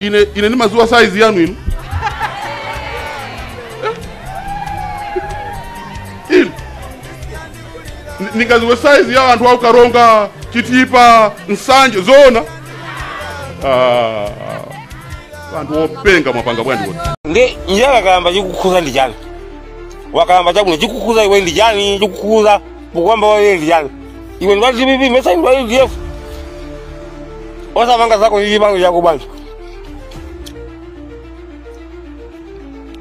ine ine ndimadziwa saizi yanu inu Eh? inu Ni- ndingaziwe saizi ya anthu aku Karonga chitipa nsanje zoona Ah, anthu openga mwapanga bwanji kuti ndi njala kukalamba chikukhudza ndi chani wakalamba chakuno chikukhudza iwe ndi chani chikukhudza Mukwamba wa yeye vijana. Iwe ndi wa DPP mesa ndi wa UDF. Osamapanga zako hivi bangu yako bwana.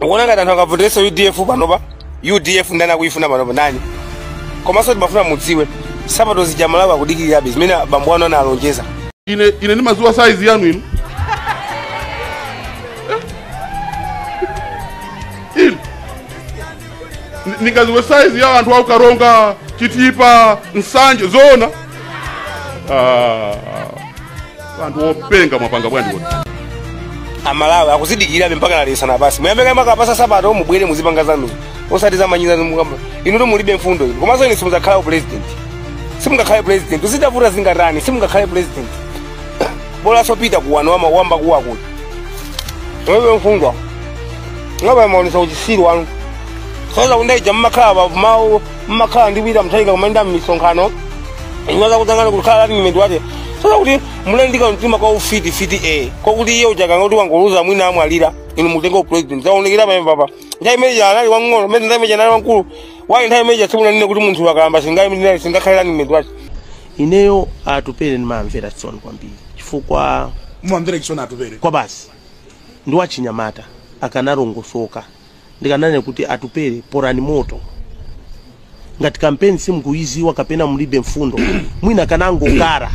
Ukuona ngati anthu angavoterenso UDF pano pa UDF ndani akuyifuna pano pa ndani? Komanso timafuna mudziwe sapato zija Amalawi akudikirirabe zimene bambo anu analonjeza. ine ine ndimaziwa saizi yanu inu Eh? inu Ni- ningaziwe saizi ya anthu aku Karonga chitipa nsanje zoona Ah, anthu openga mwapanga bwanji kuti amalawi akuzidikira mpaka nalisana basi muyambe kaye mwakapatsa sapato mubwere muzipanga zanu osati zomanyoza zimene mukamba inu nto mulibe mfundo inu komanso inu simudzakhale president simungakhale president zitavuta zingatani simungakhale president bola sopita kuwano wama wamba kuwa kuti wewe mfungwa ngaba mwaonesa uchisiru wanu zoti nthawi ija mmakhala pafupi nawo mmakhala ndi wina Mutharika kumayenda mmisonkhano inu zoti akanakhala running mate zoti kuti muli ndi kamtima ka ufiti fiti e kwakuti iye uchakanga kuti akangowina mwina amwalira inu mutenge upresident zaonekera pamene papa nthawi imene ija anali wang'ono mene nthawi imene ija anali wamkulu bwanji nthawi imene ija simunanene kuti munthu wakalamba singayi singakhale running mate ineyo atupele ndimamvera chisoni kwambiri chifukwa ndimamvera chisoni atupele kwabasi ndi wachinyamata akanalongosoka ndikananena kuti atupele porani moto ngati kampeni simukuyiziwa kapena mulibe mfundo mwina akanangokhala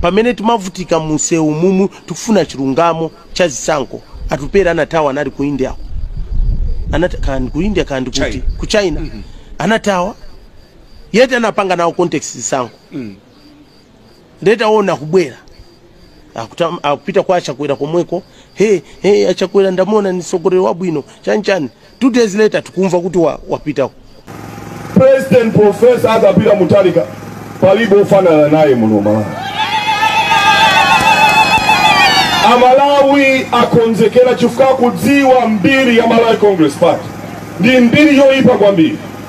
pamene timavutika munsewu mumu tikufuna chilungamo cha zisankho atupele anathawa anali ku india anata kandi ku india kandi kuti China. ku china anathawa yet anapanga nawo contest zisankho mm. nde taona akubwera Akuta- akupita kwa achakwera komweko he he achakwera ndamuona ndi msogoleri wabwino chanchani two days later tikumva kuti wa- wapita president profesa Arthur Peter Mutharika palibe ofanana naye muno malawi amalawi akonzekera chifukwa akudziwa mbiri ya malawi congress party ndi mbiri yoyipa kwambiri